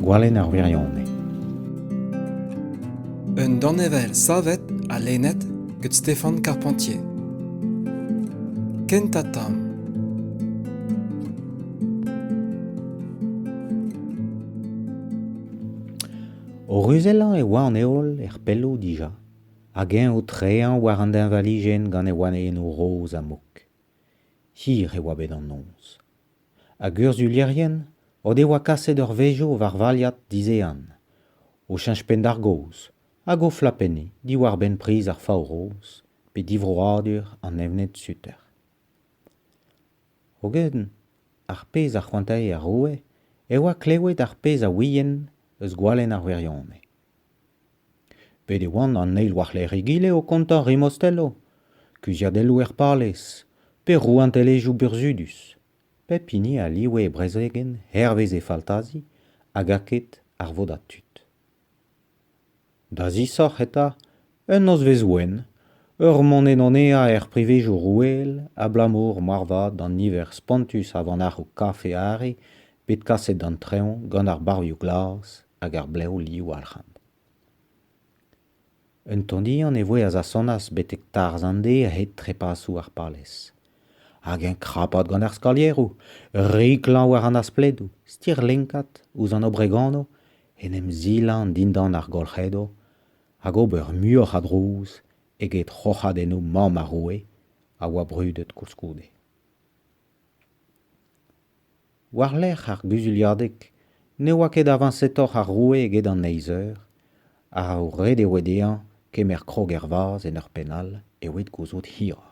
Gwalenn ar wirionez. Un danevell savet ha lennet gant Stéphane Carpentier. Kentañ tamm. O ruzellañ e oa an heol er pelloù dija. hag eñ o treañ war an deñvalijenn gant e wanennoù roz ha mok. Hir e oa bet an noz. Hag urzhulierien o devoa kaset ur vezv war valiad dizehan, o cheñch penn d'ar gaoz hag o flapenniñ diwar-benn priz ar fav-roz pe divroadur an evned-suter. Hogen ar pezh a c'hoantae ar roue e oa klewet ar pezh a ouient eus gwalenn ar wirionez. Bet e oant an eil war-lerc'h egile o kontañ Rimostello, kuzhiadelloù er palez, pe rouantelezhioù burzhudus. Pep hini a live e brezegenn hervez e faltazi hag aked ar vodad tud. Da zisoc'h eta, un nozvezh wenn, ur monedonea er privezioù roueel abalamour moarvat d'an niver spontus a vanac'hoù kafe-arre bet kaset d'an traoñ gant ar barvioù glas hag ar blev liwoalc'hant. Un tondian e voe a zasonas betek tarzh an dez a-hed trepasoù ar palez. Hag eñ krapat gant ar skalieroù, riklañ war an aspledoù, stirlinkat ouzh an obregono, en em zilañ dindan ar golc'hedo hag ober muioc'h a drouz eget roc'hadennoù mamm ar roue a oa brudet koulskoude. War-lerc'h ar guzuliadeg ne oa ket avañsetoc'h ar roue eget an eizh eur, ha ret e oe dezhañ kemer krog ervazh en ur penn all e oed gouzout hiroc'h.